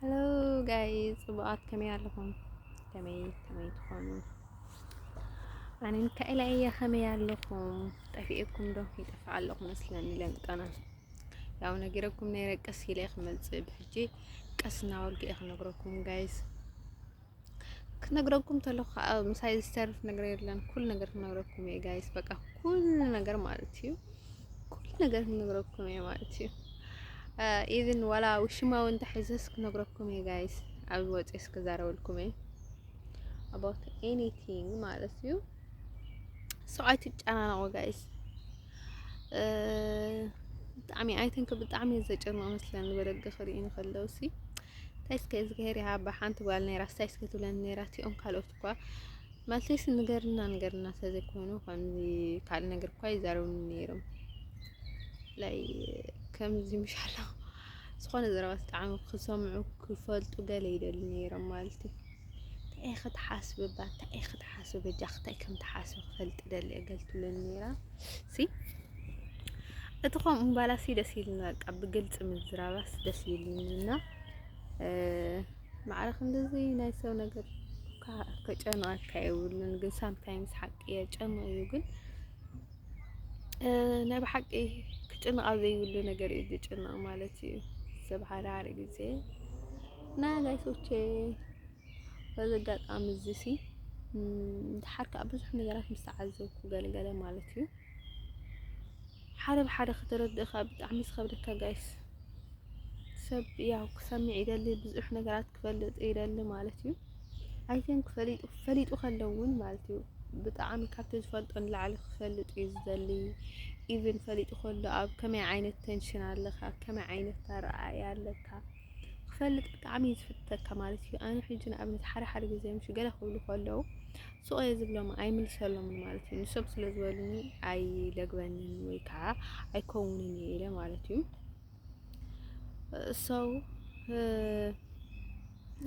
ሄሎ ጋይ ጽቡቃት ከመይ ኣለኹም? ከመይ ከመይ ትኾኑ? ኣነ ሚካኤላ እየ ከመይ ኣለኹም? ጠፊኤኩም ዶ ይጠፍእ ኣለኹ መስለኒ ለምጠና ያው ነጊረኩም ነይረ ቀስ ኢለ ክመጽእ ብሕጂ ቀስ እናበልኩ እየ ክነግረኩም ጋይስ ክነግረኩም ተለኩ ከዓ ምሳይ ዝተርፍ ነገር የለን። ኩሉ ነገር ክነግረኩም እየ ጋይስ፣ በቃ ኩሉ ነገር ማለት እዩ። ኩሉ ነገር ክነግረኩም እየ ማለት እዩ። ኢቭን ዋላ ውሽማ እውን ተሒዘስ ክነግረኩም እየ ጋይስ። ኣብ ወፅስ ክዛረበልኩም እየ ኣባውት ኤኒቲንግ ማለት እዩ። ሰው ኣይትጨናነቁ ጋይስ። ብጣዕሚ ኣይተንክ ብጣዕሚ ዘጨንቅ መስለን በደገ ክርኢ ንከለው ሲ እንታይ እስከ እዝግሄር ይሃባ ሓንቲ ጓል ነይራስ እንታይ እስከ ትብለኒ ነይራ እቲኦም ካልኦት እኳ ማለተይስ ንገርና ንገርና ተዘይኮይኑ ከምዚ ካልእ ነገር እኳ ይዛረቡኒ ነይሮም ላይ ከምዚ ምሻሎ ዝኾነ ዘረባ ዝተዓሙ ክሰምዑ ክፈልጡ ገለ ይደልዩ ነይሮም ማለት እዩ። ታይ ኢኺ ትሓስቢ እባ ታይ ኢኺ ትሓስቢ በጃኺ ታይ ከም ትሓስቢ ክፈልጥ ይደሊ እየ ገለ ትብለኒ ነይራ ሲ እቲ ከምኡ ምባላሲ ደስ ኢሉኒ በቃ ብግልፂ ምዝራባስ ደስ ኢሉኒ እና ማዕረ ክንድዚ ናይ ሰብ ነገር ከጨንቀካ የብሉን ግን ሳምታይምስ ሓቂ የጨንቅ እዩ ግን ናይ ብሓቂ ክጭነቕ ኣብ ዘይብሉ ነገር እዩ ዝጭነቕ ማለት እዩ። ሰብ ሓዳሪ ግዜ እና ጋይሶቼ በዚ ኣጋጣሚ እዚ ሲ ድሓር ከዓ ብዙሕ ነገራት ምስ ተዓዘብኩ ገለገለ ማለት እዩ ሓደ ብሓደ ከተረድእ ከዓ ብጣዕሚ ዝኸብደካ ጋይስ ሰብ ያው ክሰምዕ ይደሊ ብዙሕ ነገራት ክፈልጥ ይደሊ ማለት እዩ። ኣይቲንክ ፈሊጡ ፈሊጡ ከሎ ውን ማለት እዩ ብጣዕሚ ካብቲ ዝፈልጦ ንላዕሊ ክፈልጥ እዩ ዝደሊ ኢቭን ፈሊጡ ከሎ ኣብ ከመይ ዓይነት ተንሽን ኣለካ ከመይ ዓይነት ኣረኣእያ ኣለካ ክፈልጥ ብጣዕሚ እዩ ዝፍተካ ማለት እዩ። ኣነ ሕጂ ንኣብነት ሓደ ሓደ ግዜ ምሽ ገለ ክብሉ ከለዉ ሱቕ እየ ዝብሎም ኣይምልሰሎምን ማለት እዩ። ንሶም ስለ ዝበሉኒ ኣይለግበንን ወይ ከዓ ኣይከውንን እየ ኢለ ማለት እዩ። ሰው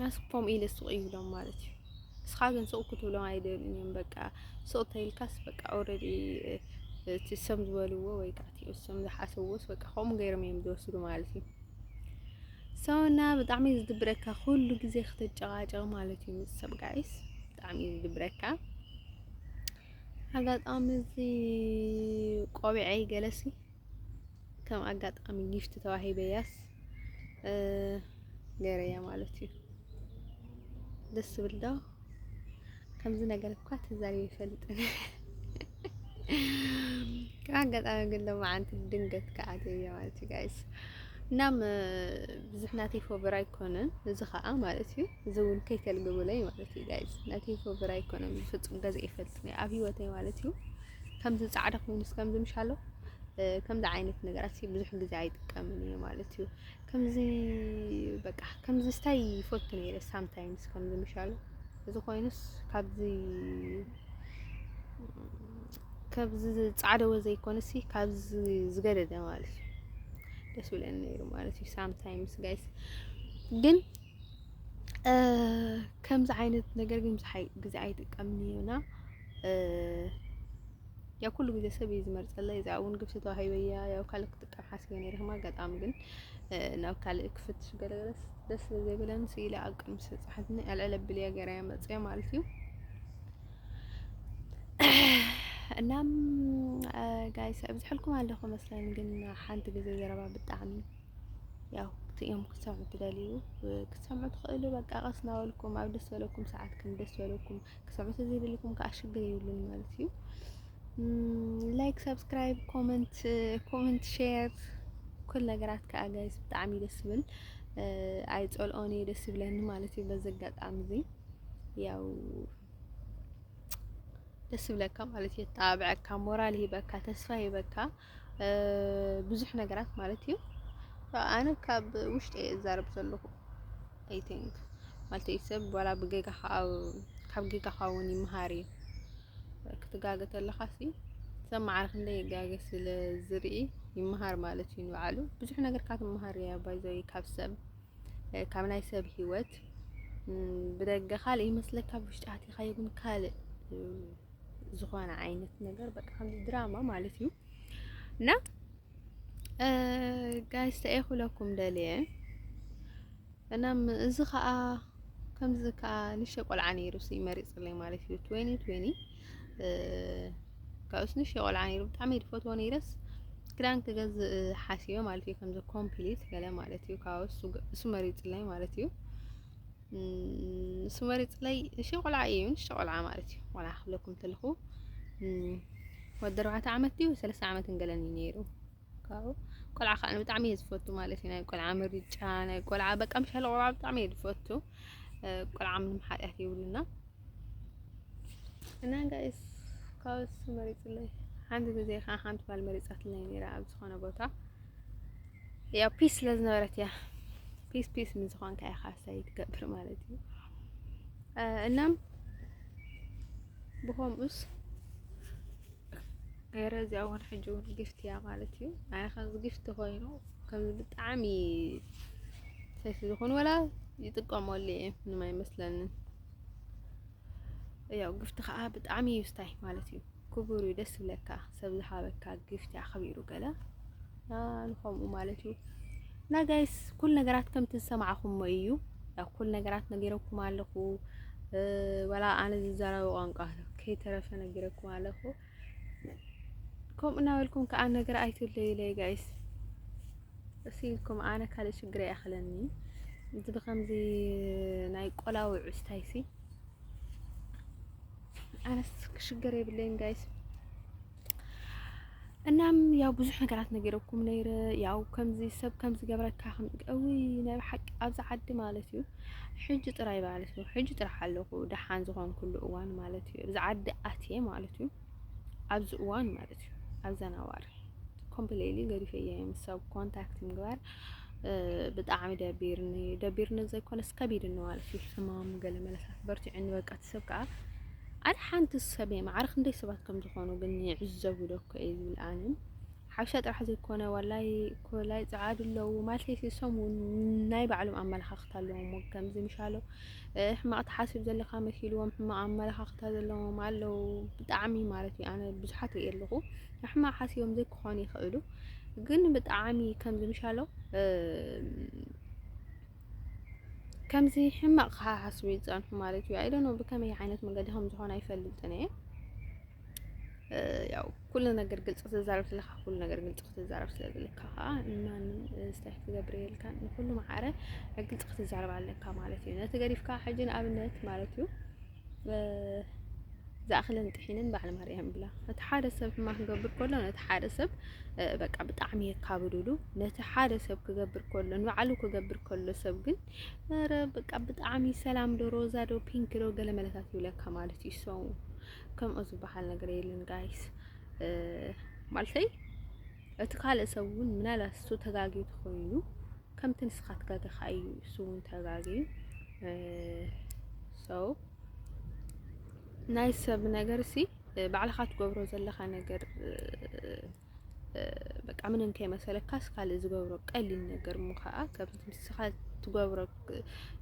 ኣስፖም ኢለ ስቕ ይብሎም ማለት እዩ። እስኻ ግን ስቕ ክትብሎም ኣይደልዩን እዮም። በቃ ስቕ ተይልካስ በቃ ኦልሬዲ እቲ ሰም ዝበልዎ ወይ ከዓ እቲ እሶም ዝሓሰብዎስ በቃ ከምኡ ገይሮም እዮም ዝወስዱ ማለት እዩ። ሰውና ብጣዕሚ እዩ ዝድብረካ ኩሉ ግዜ ክትጨቃጨቕ ማለት እዩ ምስ ሰብ ጋይስ ብጣዕሚ እዩ ዝድብረካ። ኣጋጣሚ እዚ ቆቢዐይ ገለሲ ከም ኣጋጣሚ ጊፍት ተዋሂበያስ ገይረያ ማለት እዩ። ደስ ዝብል ዶ ከምዚ ነገር እኳ ተዛሪበ ይፈልጥን ካብ ኣጋጣሚ ግን ሎማዓንቲ ድንገት ከዓትየ ማለት እዩ ጋይስ እናም ብዙሕ ናተይ ፎብር ኣይኮነን እዚ ከዓ ማለት እዩ እዚ እውን ከይተልግብለይ ማለት እዩ ጋይዝ ናይ ቴፎብር ኣይኮነን ብፍፁም ገዛ ይፈልጥኒ ኣብ ሂወተይ ማለት እዩ ከምዚ ፃዕዳ ኮይኑስ ከምዚ ምሻሎ ከምዚ ዓይነት ነገራት ብዙሕ ግዜ ኣይጥቀምን እየ ማለት እዩ ከምዚ በቃ ከምዚ ስታይ ይፈቱ ነይረ ሳምታይምስ ከምዚ ምሻሎ እዚ ኮይኑስ ካብዚ ካብዚ ፃዕደወ ዘይኮነሲ ካብዚ ዝገደደ ማለት እዩ ደስ ብለኒ ነይሩ ማለት እዩ ሳምታይምስ ጋይስ ግን ከምዚ ዓይነት ነገር ግን ብዙሓይ ግዜ ኣይጥቀምን እየ እና ያው ኩሉ ግዜ ሰብ እዩ ዝመርፀለይ እዚኣ እውን ግፍቲ ተዋሂበ እያ ያው ካልእ ክጥቀም ሓሲበ ነይረ ከም ኣጋጣሚ ግን ናብ ካልእ ክፍትሽ ገለገለስ ደስ ስለ ዘይበለኒ ስኢለ ኣብ ቅድሚ ሰብ ፀሓፍኒ ኣልዕል ኣቢለ እያ ገይረ እያ መፅኣ ማለት እዩ እናም ጋይስ ኣብዝሐልኩም ኣለኹ መስለኒ ግን ሓንቲ ግዜ ዘረባ ብጣዕሚ ያው እቲ እዮም ክትሰምዑ ትደልዩ ክትሰምዑ ትኽእሉ። በቃ ቀስ እናበልኩም ኣብ ደስ በለኩም ሰዓት ከም ደስ በለኩም ክትሰምዑ ተዘይደልኩም ከዓ ሽግር የብሉን ማለት እዩ። ላይክ፣ ሰብስክራይብ፣ ኮመንት ኮመንት ሼር ኩል ነገራት ከዓ ጋይስ ብጣዕሚ ደስ ይብል። ኣይጸልኦን እዩ ደስ ይብለኒ ማለት እዩ። በዚ ኣጋጣሚ እዚ ያው ደስ ይብለካ ማለት እዩ። የጣብዐካ፣ ሞራል ይህበካ፣ ተስፋ ይህበካ። ብዙሕ ነገራት ማለት እዩ። ኣነ ካብ ውሽጢ እየ እዛረብ ዘለኹ ኣይ ቲንክ ማለት ሰብ ዋላ ብጌጋ ካብ ጌጋኻ እውን ይምሃር እዩ። ክትጋገ ተለኻ ሲ ሰብ መዓር ክንደይ ይጋገ ስለ ዝርኢ ይምሃር ማለት እዩ ንባዕሉ ብዙሕ ነገር ካብ ትምሃር እያ ባይዘይ ካብ ሰብ ካብ ናይ ሰብ ሂወት ብደገ ካልእ ይመስለካ ብውሽጢ ኣቲኻዮ ግን ካልእ ዝኾነ ዓይነት ነገር በቃ ከምዚ ድራማ ማለት እዩ እና ጋይስ ተኤኹለኩም ደልየ እና እዚ ከዓ ከምዚ ከዓ ንሸ ቆልዓ ነይሩ ሲ መሪፅለይ ማለት እዩ ትዌኒ ትዌኒ ካብኡስ ንሸ ቆልዓ ነይሩ ብጣዕሚ ድፈትዎ ነይረስ ክዳን ክገዝእ ሓሲበ ማለት እዩ ከምዚ ኮምፕሊት ገለ ማለት እዩ ካብኡስ እሱ መሪፅለይ ማለት እዩ ንሱ መሪፅለይ እሺ ቆልዓ እዩ ንእሽቶ ቆልዓ ማለት እዩ ቆልዓ ክብለኩም ተለኹ ወዲ ኣርባዕተ ዓመት ድዩ ሰለስተ ዓመት እንገለን እዩ ነይሩ ካብኡ ቆልዓ ከዓ ብጣዕሚ እየ ዝፈቱ ማለት እዩ ናይ ቆልዓ ምርጫ ናይ ቆልዓ በቃ ምሻለ ቆልዓ ብጣዕሚ እየ ዝፈቱ ቆልዓ ምንም ሓጢኣት የብሉና እና ጋይስ ካብ እሱ መሪፅለይ ሓንቲ ግዜ ከዓ ሓንቲ ጓል መሪፃትለይ ነይራ ኣብ ዝኾነ ቦታ ያው ፒስ ስለ ዝነበረት እያ ፒስ ፒስ ምስ ዝኾንካ ኢኻ ሳይ ትገብር ማለት እዩ እና ብኸምኡስ ገይረ እዚኣ እውን ሕጂ እውን ግፍቲ እያ ማለት እዩ ኣይ ከምዚ ግፍቲ ኮይኑ ከምዚ ብጣዕሚ ሰይፊ ዝኾኑ ወላ ይጥቀመሉ እየ ምንም ኣይመስለንን ያው ግፍቲ ከዓ ብጣዕሚ እዩ ስታይ ማለት እዩ ክቡር እዩ ደስ ይብለካ ሰብ ዝሃበካ ግፍቲ ኣኽቢሩ ገለ ንኸምኡ ማለት እዩ እና ጋይስ ኩል ነገራት ከምቲ ዝሰማዕኹሞ እዩ ያው ኩል ነገራት ነጊረኩም ኣለኹ ወላ ኣነ ዝዛረበ ቋንቋ ከይተረፈ ነጊረኩም ኣለኹ ከምኡ እናበልኩም ከዓ ነገር ኣይትለዩለይ ጋይስ እሲልኩም ኣነ ካልእ ሽግር ኣይኣኽለኒ እዚ ብከምዚ ናይ ቆላዊ ዕስታይሲ ኣነስ ክሽገር የብለይን ጋይስ እናም ያው ብዙሕ ነገራት ነገረኩም ነይረ ያው ከምዚ ሰብ ከምዚ ገብረካ ከም እዊ ናይ ብሓቂ ኣብዚ ዓዲ ማለት እዩ ሕጂ ጥራይ ማለት እዩ ሕጂ ጥራሕ ኣለኹ ደሓን ዝኾንኩሉ እዋን ማለት እዩ ኣብዚ ዓዲ ኣትየ ማለት እዩ ኣብዚ እዋን ማለት እዩ ኣብዛ ናዋሪ ኮምፕሌሊ ገዲፈየ ምስ ሰብ ኮንታክት ምግባር ብጣዕሚ ደቢርኒ ደቢርኒ ዘይኮነስ ከቢድኒ ማለት እዩ ሕማም ገለ መለሳት በርቲዕኒ በቃ እቲ ሰብ ከዓ ኣረ ሓንቲ ሰብ ማዕረ ክንደይ ሰባት ከም ዝኾኑ ግን ይዕዘቡ ዶ እኮ እየ ዝብል ኣነ ሓበሻ ጥራሕ ዘይኮነ ዋላይ ኮላይ ጸዓዱ ኣለዉ ማለት እሶም ናይ ባዕሎም ኣመለኻኽታ ኣለዎም ከምዚ ምሻሎ ሕማቕ ተሓስብ ዘለካ መሲልዎም ሕማቕ ኣመለኻኽታ ዘለዎም ኣለዉ ብጣዕሚ ማለት እዩ ኣነ ብዙሓት ርኢ ኣለኹ ሕማቕ ሓሲቦም ዘይክኾኑ ይኽእሉ ግን ብጣዕሚ ከምዚ ምሻሎ ከምዚ ሕማቕ ክሓሓስቡ ይጸንሑ ማለት እዩ። ኣይደኖ ብከመይ ዓይነት መንገዲ ከም ዝኾነ ኣይፈልጥን እየ። ያው ኩሉ ነገር ግልፂ ክትዛረብ ስለካ ኩሉ ነገር ግልፂ ክትዛረብ ስለ ዘለካ ከዓ ንማንም ስታይ ክትገብር የልካን ንኩሉ ማዕረ ግልፂ ክትዛረብ ኣለካ ማለት እዩ። ነቲ ገዲፍካ ሕጂ ንኣብነት ማለት እዩ ዝኣኽለን ጥሒንን በዓል ማርያም ይብላ። እቲ ሓደ ሰብ ሕማቅ ክገብር ከሎ ነቲ ሓደ ሰብ በቃ ብጣዕሚ የካብድሉ። ነቲ ሓደ ሰብ ክገብር ከሎ ንባዕሉ ክገብር ከሎ ሰብ ግን ኧረ በቃ ብጣዕሚ ሰላም ዶ ሮዛ ዶ ፒንክ ዶ ገለ መለታት ይብለካ ማለት እዩ። ሰው ከምኡ ዝበሃል ነገር የለን ጋይስ ማለተይ እቲ ካልእ ሰብ እውን ምናልባት እሱ ተጋግዩ ተኾይኑ ከምቲ ንስኻ ትጋገኻ እዩ እሱ እውን ተጋግዩ ሰው ናይ ሰብ ነገር ሲ ባዕልኻ ትገብሮ ዘለኻ ነገር በቃ ምንም ከይመሰለካስ ካልእ ዝገብሮ ቀሊል ነገር እሞ ከዓ ከምቲ ንስኻ ትገብሮ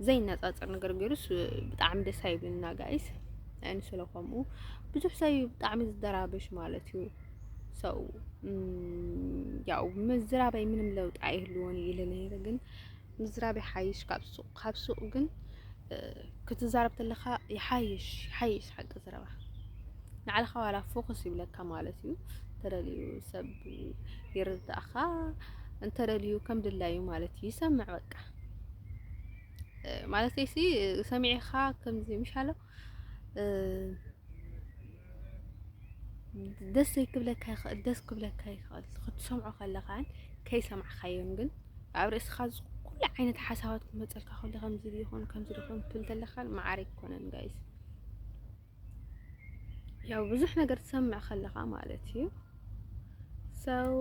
ዘይነፃፀር ነገር ገይሩስ ብጣዕሚ ደስ ኣይብልና ጋይስ። ንስለ ከምኡ ብዙሕ ሰብ እዩ ብጣዕሚ ዝደራበሽ ማለት እዩ። ሰው ያው ምዝራበይ ምንም ለውጥ ኣይህልዎን ኢለ ነይረ ግን ምዝራብ ይሓይሽ ካብ ሱቕ ካብ ሱቕ ግን ክትዛረብ ተለኻ ይሓይሽ ይሓይሽ ሓቂ ዝረባ ንዓለኻ ዋላ ፎከስ ይብለካ ማለት እዩ ተደልዩ ሰብ ይርዳእኻ እንተደልዩ ከም ድላዩ ማለት እዩ ይሰምዕ በቃ ማለት ሲ ሰሚዕኻ ከምዚ ምሻሎ ደስ ዘይክብለካ ይኽእል ደስ ክብለካ ይኽእል ክትሰምዖ ከለኻን ከይሰማዕካዮን ግን ኣብ ርእስኻ ኩሉ ዓይነት ሓሳባት ክመፀልካ ከሎ ከምዚ ይኹን ከምዚ ይኹን ትብል ተለካ ማዕረ ኣይኮነን ጋይስ ያው ብዙሕ ነገር ትሰምዕ ከለኻ ማለት እዩ ሰው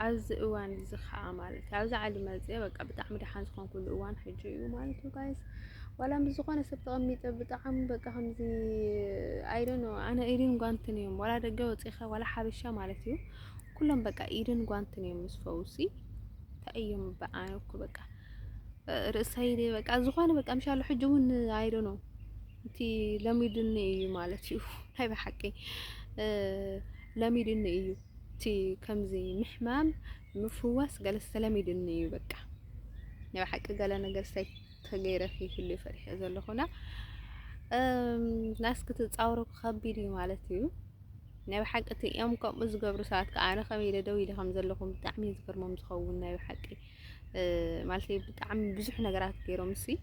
ኣብዚ እዋን እዚ ከዓ ማለት እዩ ኣብዚ ዓሊ መፀ በቃ ብጣዕሚ ደሓን ዝኾንኩሉ እዋን ሕጂ እዩ ማለት እዩ ጋይስ ዋላ ምስ ዝኾነ ሰብ ተቐሚጠ ብጣዕሚ በቃ ከምዚ ኣይደኖ ኣነ ኢድን ጓንትን እዮም ዋላ ደገ ወፂኻ ዋላ ሓበሻ ማለት እዩ ኩሎም በቃ ኢድን ጓንትን እዮም ምስ ፈውሲ እንታይ እዮም በኣነ እኮ በቃ ርእሰይ በቃ ዝኾነ በቃ ምሻሉ ሕጂ እውን ኣይደኖ እቲ ለሚድኒ እዩ ማለት እዩ ናይ ብሓቂ ለሚድኒ እዩ እቲ ከምዚ ምሕማም ምፍዋስ ገለ ዝተለሚድኒ እዩ በቃ ናይ ብሓቂ ገለ ነገር ሳይ ተገይረ ከይህሉ ፈሪሐ ዘለኹና ናስ ክትጻወሩ ከቢድ እዩ ማለት እዩ ናይ ብሓቂ እቲ እዮም ከምኡ ዝገብሩ ሰባት ከዓ ኣነ ከመይ ኢለ ደው ኢለ ከም ዘለኹም ብጣዕሚ ዝገርሞም ዝኸውን ናይ ብሓቂ ማለት ብጣዕሚ ብዙሕ ነገራት ገይሮም ሲ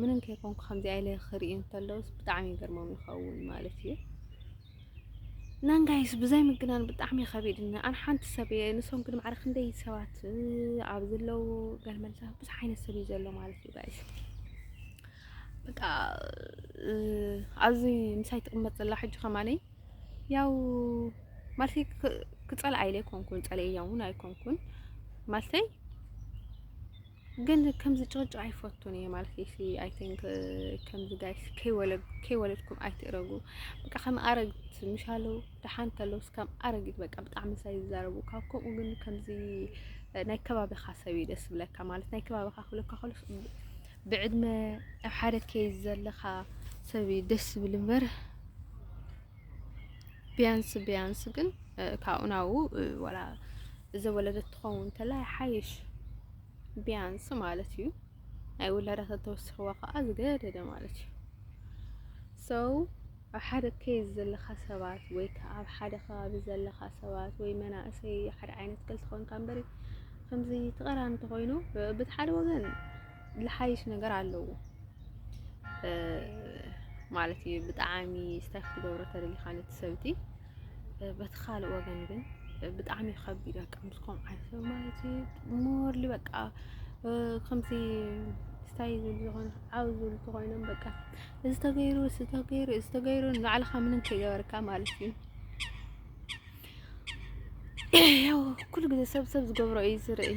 ምንም ከይኮንኩ ከምዚኣ ኢለ ክርኢ እንተለውስ ብጣዕሚ ይገርሞም ይኸውን ማለት እዩ ናንጋይስ ብዘይ ምግናን ብጣዕሚ ከቢድኒ ኣን ሓንቲ ሰብ እየ ንሶም ግን ማዕረ ክንደይ ሰባት ኣብ ዘለው ገልመልታ ብዙሕ ዓይነት ሰብ እዩ ዘሎ ማለት እዩ ጋይስ በቃ ኣብዚ ምሳይ ትቕመጥ ዘላ ሕጂ ከማለይ ያው ማለተይ ክፀልኣ ኢለ ኣይኮንኩን ፀለያ እውን ኣይኮንኩን ማለተይ ግን ከምዚ ጨውጨ ኣይፈቱን እየ ማለት እዩ ሲ ኣይ ቲንክ ከምዚ ጋይስ ከይወለድኩም ኣይትእረጉ በቃ ከም ኣረግት ምሻለው ደሓን ተለው ስካም ኣረጊት በቃ ብጣዕሚ ሳይ ዝዛረቡ ካብ ከምኡ ግን ከምዚ ናይ ከባቢኻ ሰብ እዩ ደስ ብለካ ማለት ናይ ከባቢኻ ክብለካ ከሎ ብዕድመ ኣብ ሓደ ከይዝ ዘለኻ ሰብ እዩ ደስ ዝብል እምበር ቢያንስ ቢያንስ ግን ካብኡ ናብኡ ወላ ዘወለደት ትኸውን ተላ ይሓይሽ ቢያንስ ማለት እዩ ናይ ውላዳ ተተወሲኽዋ ከዓ ዝገደደ ማለት እዩ ሰው ኣብ ሓደ ኬዝ ዘለካ ሰባት ወይ ከዓ ኣብ ሓደ ከባቢ ዘለካ ሰባት ወይ መናእሰይ ሓደ ዓይነት ክልተ ኮይንካ እምበሪ ከምዚ ተቐራኒ ተኮይኑ ብቲ ሓደ ወገን ልሓይሽ ነገር ኣለዎ ማለት እዩ። ብጣዕሚ ስታይ ክትገብሮ ተደሊኻ ነቲ ሰብቲ በቲ ካልእ ወገን ግን ብጣዕሚ እዩ ከቢድ በቃ ምስ ከምኡ ዓይነት ሰብ ማለት እዩ ሞርሊ በቃ ከምዚ ስታይ ዝብሉ ዝኾነ ዓው ዝብሉ ተኾይኖም በቃ እዚ ተገይሩ እዚ ተገይሩ እዚ ተገይሩ ንባዕልኻ ምንም ከይገበርካ ማለት እዩ ያው ኩሉ ግዜ ሰብ ሰብ ዝገብሮ እዩ ዝርኢ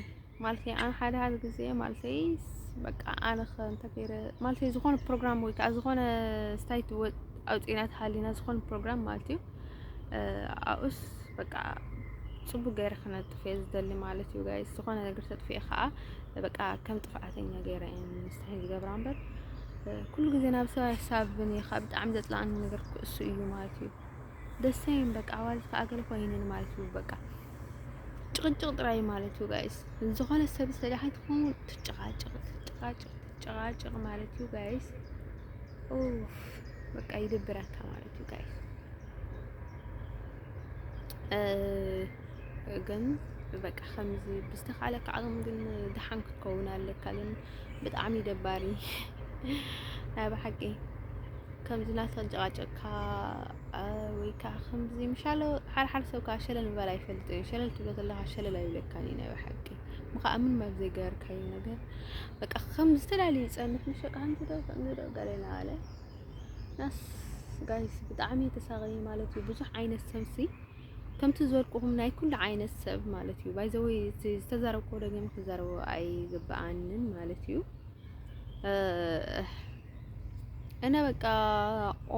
ማለተይ ኣነ ሓደ ሓደ ግዜ ማለተይ በቃ ኣነ ከ እንተ ገይረ ማለተይ ዝኾነ ፕሮግራም ወይ ከዓ ዝኾነ ስታይት ወ- ኣውፂእና ተሃሊና ዝኾነ ፕሮግራም ማለት እዩ እ፣ ኣብኡስ በቃ ፅቡቅ ገይረ ክነጥፍ እየ ዝደሊ ማለት እዩ ጋይስ ዝኾነ ነገር ተጥፍኤ ከዓ በቃ ከም ጥፍኣተኛ ገይረ እየ ምስታይ ዝገብራ እምበር እ፣ ኩሉ ግዜ ናብ ሰብ ኣይሳብን እየ ካብ ብጣዕሚ ዘፅላኣኒ ነገር ክእሱ እዩ ማለት እዩ ደሰይም በቃ ኣዋልድ ከዓ ገለ ኮይንን ማለት እዩ በቃ ጭቕጭቕ ጥራይ ማለት እዩ ጋይስ። ዝኾነ ሰብ ዝተዳሓይ ትኸውን ትጨቓጨቕ ትጨቓጨቕ ትጨቓጨቕ ማለት እዩ ጋይስ። ኡፍ በቃ ይድብረካ ማለት እዩ ጋይስ። ግን በቃ ከምዚ ብዝተኻለካ ዓቕም ግን ድሓን ክትከውን ኣለካ። ግን ብጣዕሚ ደባሪ ናይ ብሓቂ ከምዚ ናተጨቓጨቕካ ወይ ከዓ ከምዚ ምሻሎ ሓርሓር ሰብ ከዓ ሸለል ምባል ኣይፈልጥን እዩ። ሸለል ትብሎ ዘለካ ሸለል ኣይብለካን እዩ ናይ ብሓቂ ምከዓ ምን ኣብ ዘይገበርካዮ ነገር በቃ ከም ዝተፈላለየ ይጸንሕ ምሽ በቃ ከምዚ ዶ ከምዚ ዶ ገለ እናበለ ናስ ጋይስ ብጣዕሚ ተሳቀየ ማለት እዩ። ብዙሕ ዓይነት ሰብሲ ከምቲ ዝበልኩኹም ናይ ኩሉ ዓይነት ሰብ ማለት እዩ። ባይዘወ ዝተዛረብኩ ደገም ክዛረቦ ኣይግብኣንን ማለት እዩ። እነ በቃ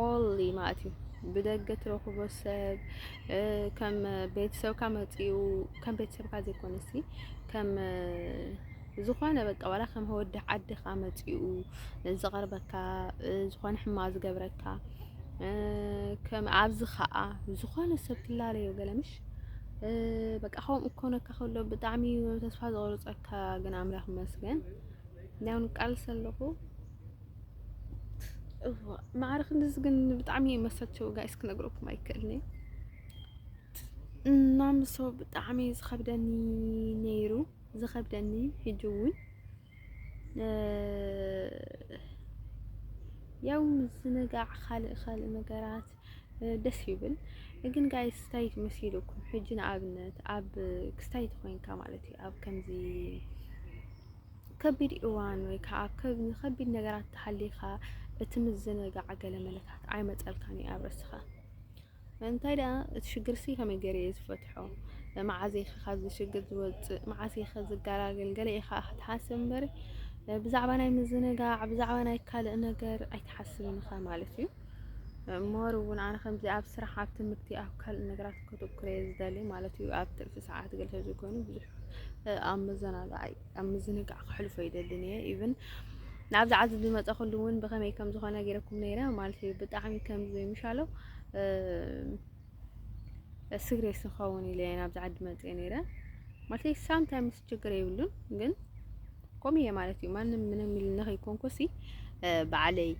ኦንሊ ማለት እዩ ብደገ ትረኽቦ ሰብ ከም ቤተሰብካ መፂኡ ከም ቤተሰብካ ዘይኮነሲ ከም ዝኾነ በቃ ዋላ ከም ወዲ ዓድኻ መፂኡ ዝቐርበካ ዝኾነ ሕማ ዝገብረካ ከም ኣብዚ ከዓ ዝኾነ ሰብ ትላለዮ ገለምሽ በቃ ከምኡ ክኾነካ ከሎ ብጣዕሚ ተስፋ ዝቆርፀካ ግን ኣምላኽ ይመስገን። ናውን ቃልሲ ኣለኹ ማዕረ ክንድዚ ግን ብጣዕሚ እዩ መሰቸው ጋይስ ክነግረኩም ኣይክእልኒ እና ምሶ ብጣዕሚ ዝኸብደኒ ነይሩ ዝኸብደኒ ሕጂ እውን ያው ምዝንጋዕ ካልእ ካልእ ነገራት ደስ ይብል ግን ጋይ ስታይት መሲልኩም ሕጂ ንኣብነት ኣብ ክስታይት ኮይንካ ማለት እዩ ኣብ ከምዚ ከቢድ እዋን ወይ ከዓ ኣብ ከ- ንከቢድ ነገራት ተሃሊኻ እቲ ምዝንጋዕ ገለመለታት ኣይመፀልካን እዩ ኣብ ርእስኻ እንታይ ደኣ እቲ ሽግርሲ ከመይ ገይረ እየ ዝፈትሖ መዓዘ ኢኸ ካብዚ ሽግር ዝወፅእ መዓዘ ኢኸ ዝገላገል ገለ ኢኻ ክትሓስብ እምበሪ እ፣ ብዛዕባ ናይ ምዝንጋዕ ብዛዕባ ናይ ካልእ ነገር ኣይትሓስብን ኢኻ ማለት እዩ ሞር እውን ኣነ ከምዚ ኣብ ስራሕ ኣብ ትምህርቲ ኣብ ካልእ ነገራት ከተኩረ እየ ዝደሊ ማለት እዩ ኣብ ትርፊ ሰዓት ገለ ተዘይኮይኑ ብዙሕ ኣብ መዘናግዓይ ኣብ ምዝንጋዕ ክሕልፎ ይደልን እየ ኢቭን ናብዚ ዓዚ ዝመፀኹሉ እውን ብኸመይ ከም ዝኾነ ገይረኩም ነይረ ማለት እዩ ብጣዕሚ ከም ዘይምሻለው ስግሬስ ንኸውን ኢለ እየ ናብዚ ዓዲ መፅየ ነይረ ማለት እዩ ሳምታይምስ ችግር የብሉን ግን ኮም እየ ማለት እዩ ማንም ምንም ኢልኒ ከይኮንኩሲ በዓለይ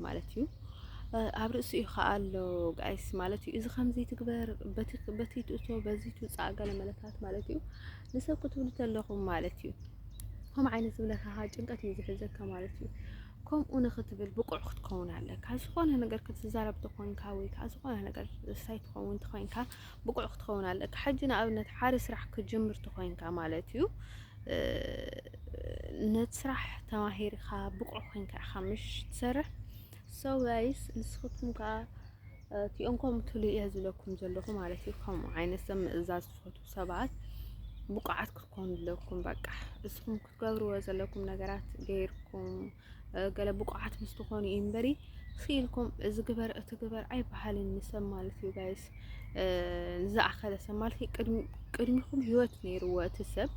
ማለት እዩ ኣብ ርእሱ እዩ ከዓ ኣሎ ጋይስ ማለት እዩ እዚ ከምዚ ትግበር በቲ ትእቶ በዚ ትውፃእ ገለ መለታት ማለት እዩ ንሰብ ክትብሉ ተለኹም ማለት እዩ ከም ዓይነት ዝብለካ ጭንቀት እዩ ዝሕዘካ ማለት እዩ ከምኡ ንክትብል ብቁዕ ክትከውን ኣለካ ዝኾነ ነገር ክትዛረብ ተኾንካ ወይ ከዓ ዝኾነ ነገር ሳይ ትኸውን ተኾይንካ ብቁዕ ክትኸውን ኣለካ ሕጂ ንኣብነት ሓደ ስራሕ ክትጅምር ተኾይንካ ማለት እዩ ነቲ ስራሕ ተማሂርካ ብቁዕ ኮይንካ ኢኻ ምሽ ትሰርሕ ሰው ጋይስ ንስኹትኩም ከዓ እቲኦም ከምኡ ትሉ እየ ዝለኩም ዘለኹ ማለት እዩ ከምኡ ዓይነት ሰብ ምእዛዝ ትፈትዉ ሰባት ብቁዓት ክትኮኑ ኣለኩም በቃ እስኹም ትገብርዎ ዘለኩም ነገራት ገይርኩም ገለ ብቑዓት ምስ ትኾኑ እዩ እምበሪ ስኢልኩም እዚ ግበር እቲ ግበር ኣይበሃልን ንሰብ ማለት እዩ ጋይስ ዝኣኸለ ሰብ ማለት ቅድሚኹም ህይወት ነይርዎ እቲ ሰብ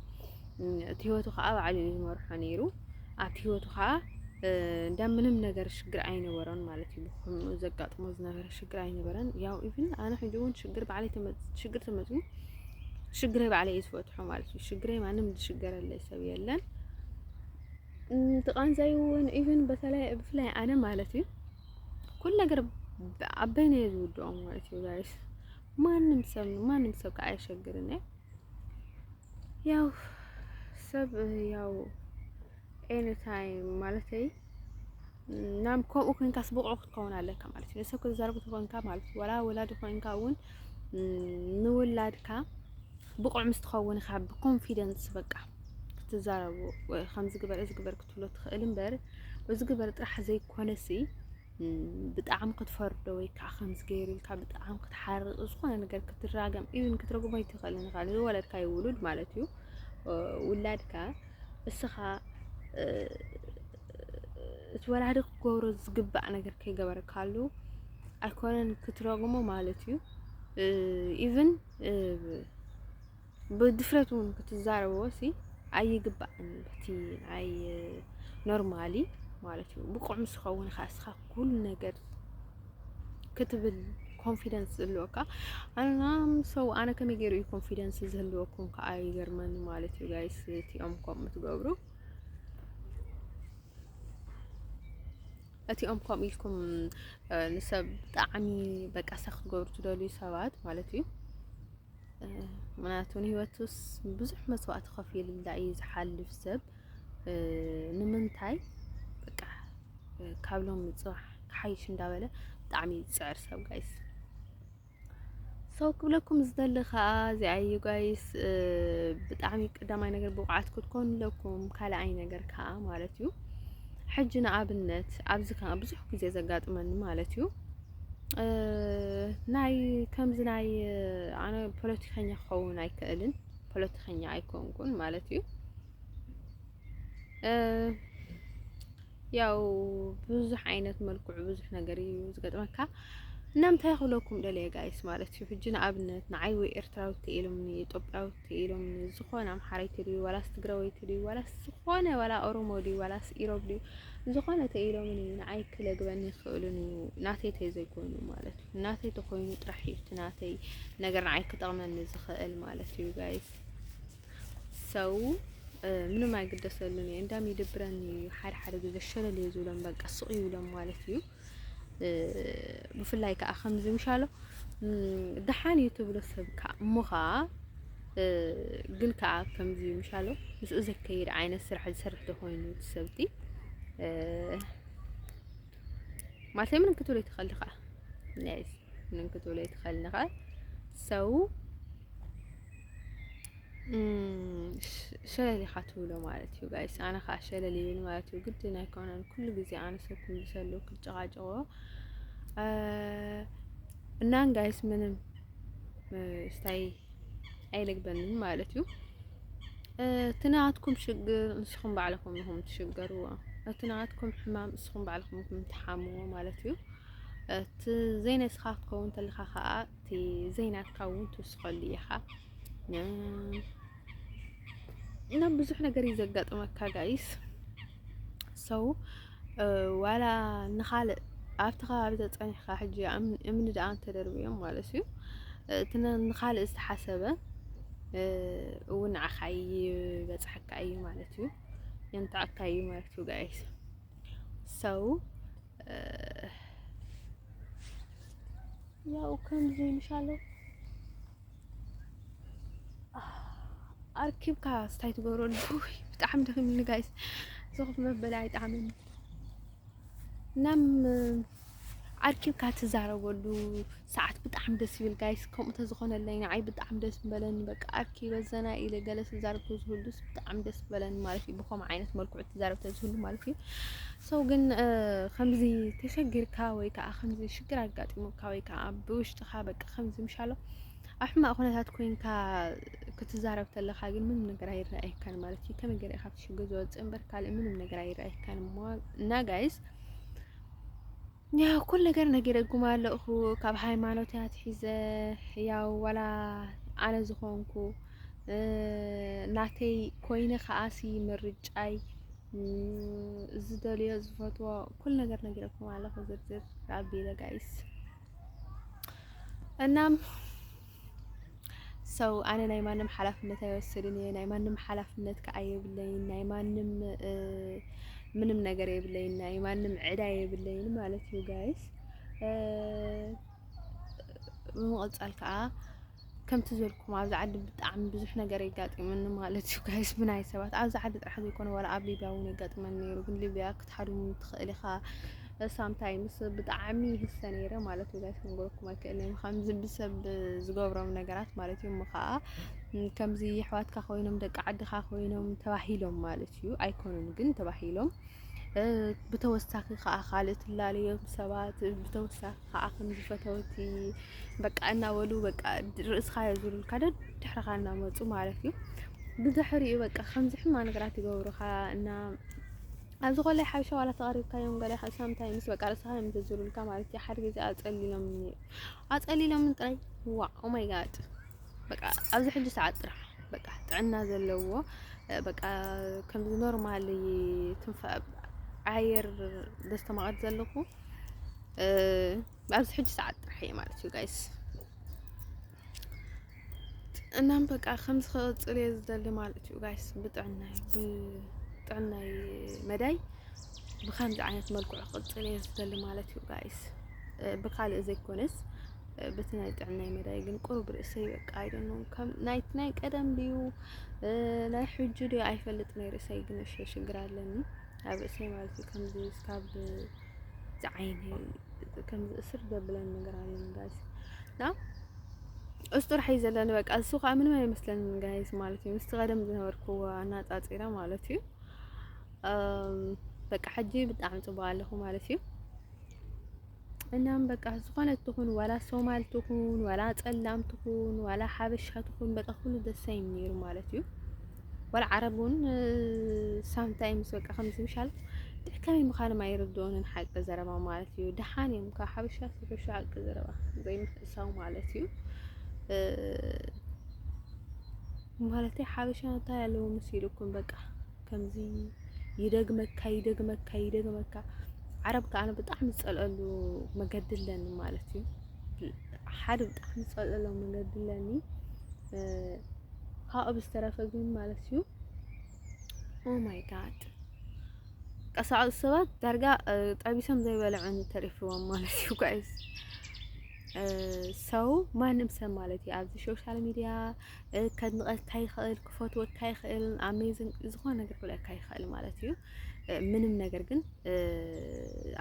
እቲ ህይወቱ ከዓ ባዕሉ እዩ ዝመርሖ ነይሩ ኣብቲ ህይወቱ ከዓ እንዳ ምንም ነገር ሽግር ኣይነበረን ማለት እዩ ብኩምኡ ዘጋጥሞ ዝነበረ ሽግር ኣይነበረን ያው ኢቭን ኣነ ሕጂ እውን ሽግር ባዕለይ ሽግር ተመፅኡ ሽግረይ ባዕለይ እየ ዝፈትሖ ማለት እዩ። ሽግረይ ማንም ዝሽገረለይ ሰብ የለን። እቲ ቃንዛይ እውን ኢቭን በተለይ ብፍላይ ኣነ ማለት እዩ ኩሉ ነገር ኣበይ ነው ዝውድኦ ማለት እዩ ጋይስ ማንም ሰብ ማንም ሰብ ከዓ አይሸግርን ያው ሰብ ያው ኤኒ ታይም ማለት ናም ከምኡ ኮንካስ ብቑዕ ክትከውን ኣለካ ማለት እዩ። ንሰብ ክትዛረብ ተኾንካ ማለት ወላ ወላዲ ኮንካ እውን ንውላድካ ብቑዕ ምስ ትኸውን ኢኻ ብኮንፊደንስ በቃ ክትዛረቡ ከምዚ ግበር እዚ ግበር ክትብሎ ትኽእል እምበር እዚ ግበር ጥራሕ ዘይኮነሲ ብጣዕሚ ክትፈርዶ ወይ ከዓ ከምዚ ገይሩ ኢልካ ብጣዕሚ ክትሓርቕ ዝኾነ ነገር ክትራገም ኢቭን ክትረግሞ ኣይትኽእልን ኢኻ ንዝወለድካዮ ውሉድ ማለት እዩ ውላድካ እስኻ እቲ ወላዲ ክገብሮ ዝግባእ ነገር ከይገበረካሉ ኣይኮነን ክትረግሞ ማለት እዩ። ኢቭን ብድፍረት እውን ክትዛረቦ ሲ ኣይግባእን እቲ ናይ ኖርማሊ ማለት እዩ። ብቑዕ ምስ ኸውን ኸዓ እስኻ ኩሉ ነገር ክትብል ኮንፊደንስ ዝህልወካ ኣናም ሰው ኣነ ከመይ ገይሩ እዩ ኮንፊደንስ ዝህልወኩም ከዓ ይገርመኒ ማለት እዩ ጋይስ እቲኦም ከምኡ ትገብሩ እቲኦም ከምኡ ኢልኩም ንሰብ ብጣዕሚ በቃ ሰኽ ክትገብሩ ትደልዩ ሰባት ማለት እዩ ምክንያቱ ንሂወቱስ ብዙሕ መስዋእቲ ከፊሉላ እዩ ዝሓልፍ ሰብ ንምንታይ በቃ ካብ ሎም ጽባሕ ክሓይሽ እንዳበለ ብጣዕሚ ዝጽዕር ሰብ ጋይስ ሰው ክብለኩም ዝደሊ ከዓ እዚኣዩ ጋይስ ብጣዕሚ ቀዳማይ ነገር ብቑዓት ክትኮኑ ኣለኩም ካልኣይ ነገር ከዓ ማለት እዩ ሕጂ ንኣብነት ኣብዚ ከዓ ብዙሕ ግዜ ዘጋጥመኒ ማለት እዩ ናይ ከምዚ ናይ ኣነ ፖለቲከኛ ክኸውን ኣይክእልን ፖለቲከኛ ኣይኮንኩን ማለት እዩ ያው ብዙሕ ዓይነት መልክዑ ብዙሕ ነገር እዩ ዝገጥመካ እና እንታይ ክብለኩም ደለየ ጋይስ ማለት እዩ ሕጂ ንኣብነት ንዓይ ወይ ኤርትራዊት ተኢሎምኒ ኢትዮጵያዊት ተኢሎምኒ ዝኾነ ኣምሓረይቲ ድዩ ዋላስ ትግራወይቲ ድዩ ዋላስ ዝኾነ ዋላ ኦሮሞ ድዩ ዋላስ ኢሮብ ድዩ ዝኾነ ተኢሎምኒ ንዓይ ክለግበኒ ይኽእልን እዩ ናተይ ተዘይኮይኑ ማለት እዩ ናተይ ተኾይኑ ጥራሕ እዩ እቲ ናተይ ነገር ንዓይ ክጠቕመኒ ዝኽእል ማለት እዩ ጋይስ ሰው ምንም ኣይግደሰሉን እዩ እንዳም ይድብረን እዩ ሓደ ሓደ ግዜ ሸለል እዩ ዝብሎም በቃ ስቕ ይብሎም ማለት እዩ ብፍላይ ከዓ ከምዚ ምሻሎ ደሓን እዩ ትብሎ ሰብ ከዓ እሞ ከዓ ግን ከዓ ከምዚ ምሻሎ ምስኡ ዘከይድ ዓይነት ስራሕ ዝሰርሕ ተኮይኑ ሰብቲ ማለት ምንም ክትብሎ ይትኸል ከዓ ምንም ክትብሎ ይትኸል ከዓ ሰው ሸለል ኢኻ ትብሎ ማለት እዩ ጋይስ። ኣነ ከዓ ሸለል ይብል ማለት እዩ። ግድን ኣይኮነን ኩሉ ግዜ ኣነ ሰብ ክምልሰሉ ክጨቃጨቆ እናን ጋይስ ምንም ስታይ ኣይልግበንን ማለት እዩ። እቲ ናትኩም ሽግር ንስኹም ባዕልኹም ኢኹም ትሽገርዎ። እቲ ናትኩም ሕማም ንስኹም ባዕልኹም ኢኹም ትሓምዎ ማለት እዩ። እቲ ዘይነስኻ ክትከውን ተለኻ ከዓ እቲ ዘይናትካ እውን ትውስኸሉ ኢኻ እና ብዙሕ ነገር እዩ ዘጋጥመካ ጋይስ ሰው ዋላ ንኻልእ ኣብቲ ከባቢ ተፀኒሕካ ሕጂ እምኒ ደኣ እንተደርብዮም ማለት እዩ እቲ ንኻልእ ዝተሓሰበ እውን ንዓኻ ይበፅሐካ እዩ ማለት እዩ የንትዐካ እዩ ማለት እዩ ጋይስ ሰው ያው ከምዚ ምሻሎ ኣርኪብካ ስታይ ትገብረሉ ብጣዕሚ ደኺምኒ ጋይስ ዝኹፍ መበላ ይጣዕመኒ እናም ኣርኪብካ ትዛረበሉ ሰዓት ብጣዕሚ ደስ ይብል ጋይስ ከምኡ ተዝኾነለይ ንዓይ ብጣዕሚ ደስ ምበለኒ በቃ ኣርኪ በዘናይ ኢለ ገለ ስዛረብ ተዝህሉስ ብጣዕሚ ደስ ምበለኒ ማለት እዩ ብኸምኡ ዓይነት መልክዑ ትዛረብ ተዝህሉ ማለት እዩ ሰው ግን ከምዚ ተሸጊርካ ወይ ከዓ ከምዚ ሽግር ኣጋጢሙካ ወይ ከዓ ብውሽጥኻ በቃ ከምዚ ምሻሎ ኣብ ሕማቕ ኩነታት ኮይንካ ክትዛረብ ተለካ ግን ምንም ነገር ኣይረኣየካን ማለት እዩ ከመይ ገለ ካብቲ ሽግር ዝወፅእ እምበር ካልእ ምንም ነገር ኣይረኣየካን እና ጋይስ ያው ኩል ነገር ነጊረኩም ኣለኹ ካብ ሃይማኖት ኣትሒዘ ያው ዋላ ኣነ ዝኾንኩ ናተይ ኮይነ ከዓሲ ምርጫይ ዝደልዮ ዝፈትዎ ኩል ነገር ነጊረኩም ኣለኹ ዝርዝር ኣቢለ ጋይስ እናም So ኣነ ናይ ማንም ሓላፍነት ኣይወስድን እየ ናይ ማንም ሓላፍነት ከዓ የብለይን ናይ ማንም ምንም ነገር የብለይን ናይ ማንም ዕዳ የብለይን ማለት እዩ ጋይስ ብምቕፃል ከዓ ከምቲ ዘልኩም ኣብዚ ዓዲ ብጣዕሚ ብዙሕ ነገር የጋጢመኒ ማለት እዩ ጋይስ ብናይ ሰባት ኣብዚ ዓዲ ጥራሕ ዘይኮነ ዋላ ኣብ ሊብያ እውን የጋጥመኒ ነይሩ ግን ሊብያ ክትሓድሙ ትኽእል ኢኻ ሳም ታይምስ ብጣዕሚ ይህሰ ነይረ ማለት እዩ ጋይስ ክንገረኩም ኣይክእልን ከምዚ ብሰብ ዝገብሮም ነገራት ማለት እዩ እሞ ከዓ ከምዚ የሕዋትካ ኮይኖም ደቂ ዓድካ ኮይኖም ተባሂሎም ማለት እዩ ኣይኮኑን ግን ተባሂሎም ብተወሳኺ ከዓ ካልእ ትላለዮም ሰባት ብተወሳኺ ከዓ ከምዚ ፈተውቲ በቃ እናበሉ በቃ ርእስካ የዙሩልካ ደድሕርካ እናመፁ ማለት እዩ ብድሕሪኡ በቃ ከምዚ ሕማቅ ነገራት ይገብሩካ እና ኣብዚ ኮላይ ሓበሻ ዋላ ተቀሪብካዮም ገለ ካብ ሳምንታይ ምስ በቃ ርእስኻ እዮም ዝዝሩልካ ማለት እዩ። ሓደ ግዜ ኣጸሊሎምን ነይሩ ኣጸሊሎምን ጥራይ ዋ ኦ ማይ ጋድ በቃ ኣብዚ ሕጂ ሰዓት ጥራሕ በቃ ጥዕና ዘለዎ በቃ ከምዚ ኖርማል ትንፋ ኣየር ዘስተማቐር ዘለኹ ኣብዚ ሕጂ ሰዓት ጥራሕ እየ ማለት እዩ ጋይስ እናም በቃ ከምዚ ክቕፅል እየ ዝደሊ ማለት እዩ ጋይስ ብጥዕናይ ብጥዕናይ መዳይ ብከምዚ ዓይነት መልክዑ ክቕፅል እየ ዝደሊ ማለት እዩ ጋይስ ብካልእ ዘይኮነስ በቲ ናይ ጥዕናይ መዳይ ግን ቁሩብ ርእሰይ በቃ ኣይደኖ ከም ናይቲ ናይ ቀደም ድዩ ናይ ሕጂ ድዩ ኣይፈልጥ ናይ ርእሰይ ግን እሸ ሽግር ኣለኒ ኣብ ርእሰይ ማለት እዩ ከምዚ ስካብ ዝዓይነይ ከምዚ እስር ዘብለን ነገር ኣለን ጋይስ እና እሱ ጥራሕ እዩ ዘለኒ በቃ እሱ ከዓ ምንም ኣይመስለንን ጋይስ ማለት እዩ ምስቲ ቀደም ዝነበርክዎ ኣናፃፂረ ማለት እዩ በቃ ሕጂ ብጣዕሚ ፅቡቅ ኣለኹ ማለት እዩ እናም በቃ ዝኾነት ትኹን ዋላ ሶማል ትኹን ዋላ ፀላም ትኹን ዋላ ሓበሻ ትኹን በቃ ኩሉ ደሳይም ነይሩ ማለት እዩ ወላ ዓረብ እውን ሳምታይምስ በቃ ከምዚ ምሻል ከመይ ምዃኖም ኣይርድኦንን ሓቂ ዘረባ ማለት እዩ። ደሓን እዮም ካብ ሓበሻ ዝሕሹ ሓቂ ዘረባ ዘይምሕሳው ማለት እዩ። ማለት ሓበሻ እንታይ ኣለዎ መሲልኩም በቃ ከምዚ ይደግመካ ይደግመካ ይደግመካ ዓረብ ከዓ ብጣዕሚ ዝፀልአሉ መገዲ ኣለኒ ማለት እዩ። ሓደ ብጣዕሚ ዝፀልአሉ መገዲ ኣለኒ ካብኡ ብዝተረፈ ግን ማለት እዩ ኦ ማይ ጋድ ቀሳዑ ሰባት ዳርጋ ጠቢሶም ዘይበልዑ ተሪፍዎም ማለት እዩ ጋይስ ሰው ማንም ሰብ ማለት እዩ ኣብዚ ሶሻል ሚዲያ ከድንቐካ ይኽእል ክፈትወካ ይኽእል ኣሜዝን ዝኾነ ነገር ክብለካ ይኽእል ማለት እዩ ምንም ነገር ግን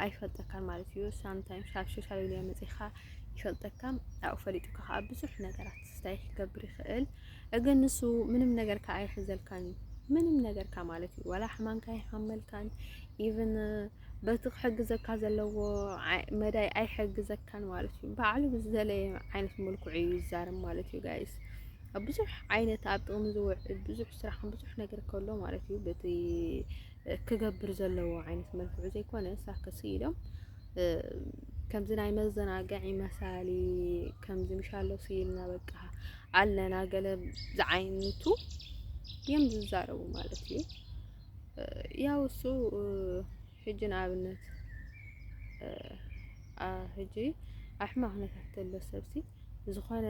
ኣይፈልጠካን ማለት እዩ ሳምታይምስ ኣብ ሶሻል ሚዲያ መፂኻ ይፈልጠካ ኣብኡ ፈሊጡካ ከዓ ብዙሕ ነገራት እንታይ ክገብር ይኽእል? እግን ንሱ ምንም ነገርካ ኣይሕዘልካን እዩ ምንም ነገርካ ማለት እዩ ዋላ ሕማምካ ይሓመልካን ኢቭን በቲ ክሕግዘካ ዘለዎ መዳይ ኣይሕግዘካን ማለት እዩ። ባዕሉ ብዝደለየ ዓይነት መልክዑ እዩ ይዛረብ ማለት እዩ ጋይስ ብዙሕ ዓይነት ኣብ ጥቕሚ ዝውዕል ብዙሕ ስራሕን ብዙሕ ነገር ከሎ ማለት እዩ በቲ ክገብር ዘለዎ ዓይነት መልክዑ ዘይኮነ ሳክስ ኢሎም ከምዚ ናይ መዘናግዒ መሳሊ ከምዚ ምሻሎ ስኢልና በቃ ኣለና ገለ ዝዓይነቱ እዮም ዝዛረቡ ማለት እዩ። ያው እሱ ሕጂ ንኣብነት ሕጂ ኣሕማቕ ነታት ዘሎ ሰብሲ ዝኾነ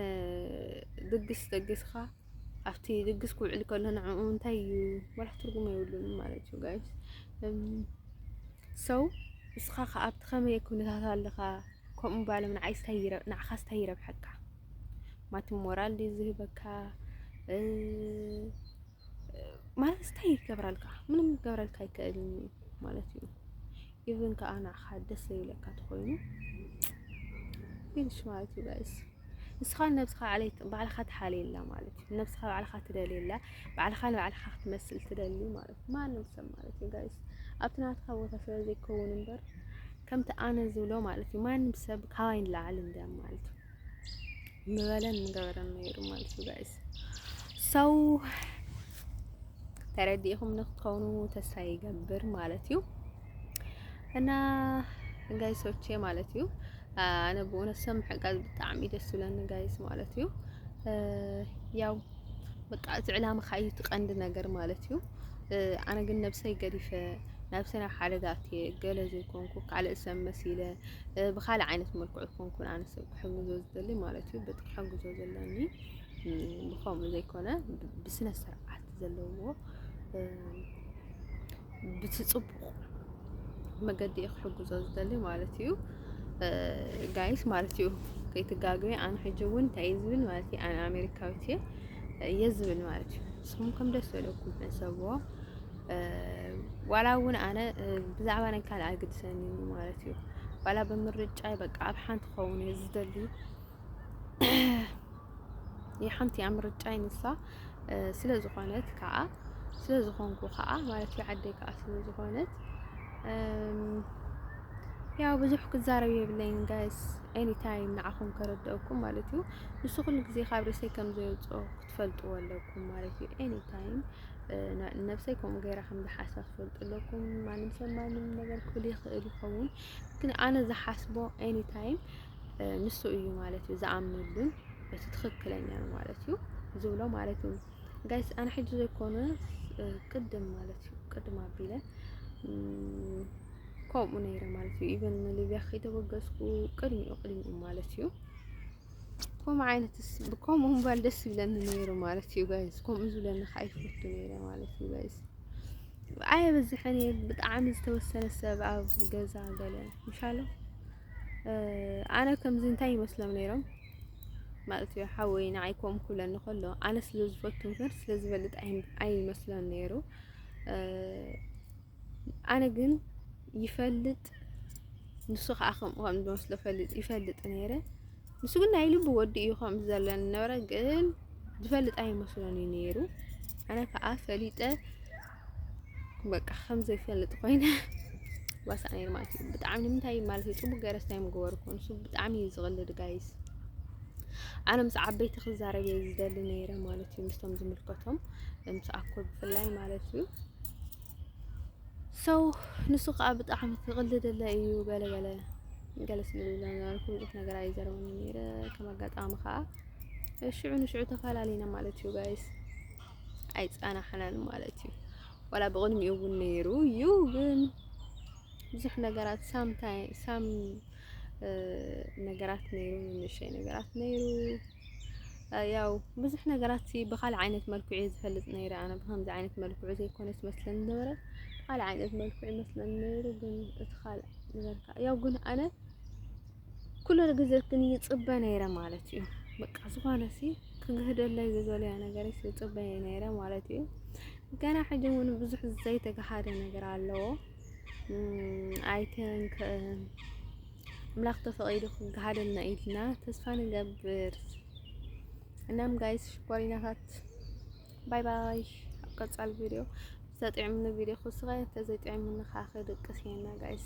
ድግስ ደግስኻ ኣብቲ ድግስ ክውዕል ከሎ ንዕኡ እንታይ እዩ ወላ ትርጉም የብሉን ማለት እዩ ጋይስ ሰው እስኻ ከ ኣብቲ ከመይ ኩነታት ኣለኻ ከምኡ ባሎም ንዓይ ስታይ ንዓኻ ስታይ ይረብሐካ ማቲ ሞራል ድዩ ዝህበካ ማለት ስታይ ይገብራልካ ምንም ይገብራልካ ይከእልን ማለት እዩ ኢቭን ከኣ ንዓኻ ደስ ዘይብለካ ተኾይኑ ፊኒሽ ማለት እዩ ጋይስ ንስኻ ንነብስኻ ዓሌት ባዕልኻ ትሓልየላ ማለት እዩ። ንነብስኻ ባዕልኻ ትደልየላ፣ ባዕልኻ ንባዕልኻ ክትመስል ትደሊ ማለት እዩ። ማንም ሰብ ማለት እዩ ጋይስ ኣብቲ ናትካ ቦታ ስለ ዘይከውን እምበር ከምቲ ኣነ ዝብሎ ማለት እዩ ማንም ሰብ ካባይ ንላዕሊ እንድያ ማለት እዩ ምበለን ምገበረን ነይሩ ማለት እዩ ጋይስ ሰው ተረዲእኹም ንክትከውኑ ተስፋ ይገብር ማለት እዩ። እና ጋይሶቼ ማለት እዩ ኣነ ብእውነት ሰብ ምሕጋዝ ብጣዕሚ ደስ ዝብለኒ ጋይስ ማለት እዩ ያው በቃ እቲ ዕላማኻ እዩ እቲ ቀንዲ ነገር ማለት እዩ ኣነ ግን ነብሰይ ገዲፈ ነብሰ ናብ ሓደጋ ኣትየ ገለ ዘይኮንኩ ካልእ ሰብ መሲለ ብካልእ ዓይነት መልክዑ ኮንኩን ኣነ ሰብ ክሕግዞ ዝደሊ ማለት እዩ በቲ ክሕግዞ ዘለኒ ብከምኡ ዘይኮነ ብስነ ስርዓት ዘለዎ ብቲ ጽቡቕ መገዲ እየ ክሕግዞ ዝደሊ ማለት እዩ ጋይስ ማለት እዩ ከይትጋግቢ ኣነ ሕጂ እውን እንታይ እዩ ዝብል ማለት እዩ ኣነ ኣሜሪካዊት እየ እየ ዝብል ማለት እዩ ንስኹም ከም ደስ ዘለኩም ሕሰብዎ ዋላ እውን ኣነ ብዛዕባ ናይ ካልእ ኣይግድሰኒ ማለት እዩ ዋላ ብምርጫይ በቃ ኣብ ሓንቲ ክኸውን እየ ዝደሊ ሓንቲ እያ ምርጫይ ንሳ ስለ ዝኾነት ከዓ ስለ ዝኾንኩ ከዓ ማለት እዩ ዓደይ ከዓ ስለ ዝኾነት ያው ብዙሕ ክዛረብ የብለይን ጋይስ ኤኒ ታይም ንዓኹም ከረድአኩም ማለት እዩ ንሱ ኩሉ ግዜ ካብ ርእሰይ ከም ዘየውፅኦ ክትፈልጥዎ ኣለኩም ማለት እዩ ኤኒ ታይም ነብሰይ ከምኡ ገይራ ከም ዝሓስባ ትፈልጡ ኣለኩም ማንም ሰብ ማንም ነገር ክብል ይኽእል ይኸውን ግን ኣነ ዝሓስቦ ኤኒ ታይም ንሱ እዩ ማለት እዩ ዝኣምነሉን እቲ ትኽክለኛ ነው ማለት እዩ ዝብሎ ማለት እዩ። ጋይስ ኣነ ሕጂ ዘይኮነ ቅድም ማለት እዩ ቅድም ኣቢለ ከምኡ ነይረ ማለት እዩ። ኢቨን ንሊብያ ከይተበገስኩ ቅድሚኡ ቅድሚኡ ማለት እዩ ከምኡ ዓይነት ከምኡ ምባል ደስ ይብለኒ ነይሩ ማለት እዩ ጋይስ። ከምኡ ዝብለኒ ከዓ ይፈቱ ነይረ ማለት እዩ ጋይስ። ኣየበዝሕን እየ ብጣዕሚ ዝተወሰነ ሰብ ኣብ ገዛ ገለ ምሻሎ ኣነ ከምዚ እንታይ ይመስሎም ነይሮም ማለት እዩ ሓወይ ንዓይ ኮም ክብለኒ ከሎ ኣነ ስለ ዝፈቱ ግን ስለ ዝበልጥ ኣይመስሎን ነይሩ ኣነ ግን ይፈልጥ ንሱ ከዓ ከምኡ ከም ዝመስሎ ፈልጥ ይፈልጥ ነይረ ንሱ ግን ናይ ልቡ ወዲ እዩ ከም ዘለኒ ነበረ ግን ዝፈልጥ ኣይመስሎን እዩ ነይሩ ኣነ ከዓ ፈሊጠ በቃ ከም ዘይፈልጥ ኮይነ ዋሳእ ነይሩ ማለት እዩ። ብጣዕሚ ንምንታይ ማለት እዩ ፅቡቅ ገይረስ እንታይ ምገበርኩ ንሱ ብጣዕሚ እዩ ዝቕልድ ጋይስ። ኣነ ምስ ዓበይቲ ክዛረብ እየ ዝደሊ ነይረ ማለት እዩ ምስቶም ዝምልከቶም ምስ ኣኮ ብፍላይ ማለት እዩ። ሰው ንሱ ከዓ ብጣዕሚ ክቕልደለ እዩ ገለ ገለ ገለ ስለ ዝብለ ነበርኩ ብዙሕ ነገር ኣይዘረበኒ ነይረ ከም ኣጋጣሚ ከዓ ሽዑ ንሽዑ ተፈላለና ማለት እዩ ጋይስ። ኣይጸናሕናን ማለት እዩ። ዋላ ብቕድሚኡ እውን ነይሩ እዩ ግን ብዙሕ ነገራት ሳም ሳም ነገራት ነይሩ ንእሽተይ ነገራት ነይሩ ያው ብዙሕ ነገራት ብካልእ ዓይነት መልክዑ እዩ ዝፈልጥ ነይረ ኣነ ብከምዚ ዓይነት መልክዑ ዘይኮነስ መስለኒ ነበረ ካልእ ዓይነት መልክዑ ይመስለኒ ነይሩ ግን እቲ ካልእ ዝበልካ ያው ግን ኣነ ኩሉ ግዜ ግን ይጽበ ነይረ ማለት እዩ በቃ ዝኾነሲ ክግህደለይ ዝደለያ ነገር ይጽበ ነይረ ማለት እዩ ገና ሕጂ እውን ብዙሕ ዘይተገሃደ ነገር ኣለዎ ኣይተን ኣምላኽ ተፈቒዱ ክገሃደልና ኢልና ተስፋ ንገብር እናም ጋይስ ሽኮሪናታት ባይ ባይ ኣብ ቀጻል ቪድዮ ዘጥዕምኒ ቪድዮ ክስኸ ተዘይጥዕምኒ ካኸ ደቅስ የና ጋይስ